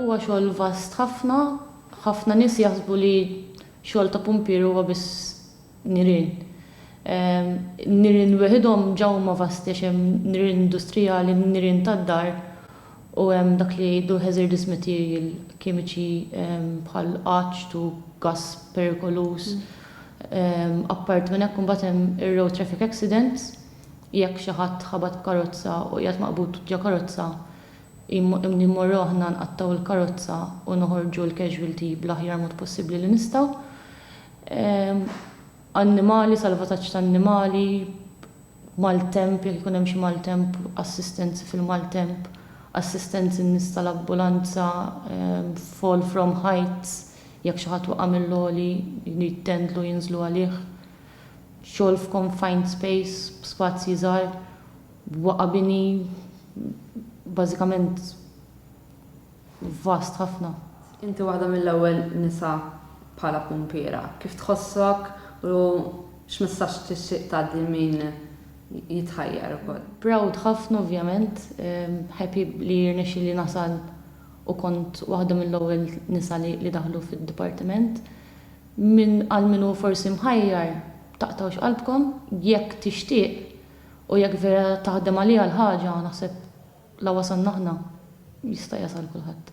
Huwa xogħol vast ħafna. Ħafna nies jaħsbu li xogħol ta' pumpier huwa biss nirien. Nirien weħidhom ġa huma vasti għax hemm nirien industrijali, nirien tad-dar u hemm dak li jgħidu hazardous material, kimiċi bħal għaġġ u gass perikoluż. Apparti minn hekk imbagħad hemm ir-road traffic accidents. Jekk xi ħadd ħabat b'karozza u qiegħed maqbud ġo karozza, immorru aħna nqattgħu l-karozza u noħorġu l-casualty bl-aħjar mod possibbli li nistgħu. Annimali, salvataġġ ta' annimali, maltemp, jekk ikun hemm xi maltemp, assistenzi fil-maltemp, assistenzi n-nies tal-ambulanza, fall from heights, jekk xi ħadd waqa' mill-għoli, jittendlu jinżlu għalih. xogħol f'confined space, b'spazji żgħar, b'waqa' bini bażikament vast ħafna. Inti waħda mill-ewwel nisa bħala pumpiera. Kif tħossok u x'messaġġ tixtieq tgħaddi lil min jitħajjar ukoll? Proud ħafna ovvjament, happy li rnexxieli nasal u kont waħda mill-ewwel nisa li daħlu fid-dipartiment. Min għal min hu forsi mħajjar, taqtgħux qalbkom, jekk tixtieq u jekk vera taħdem għaliha l-ħaġa, naħseb la wasalna aħna, jista' jasal kulħadd.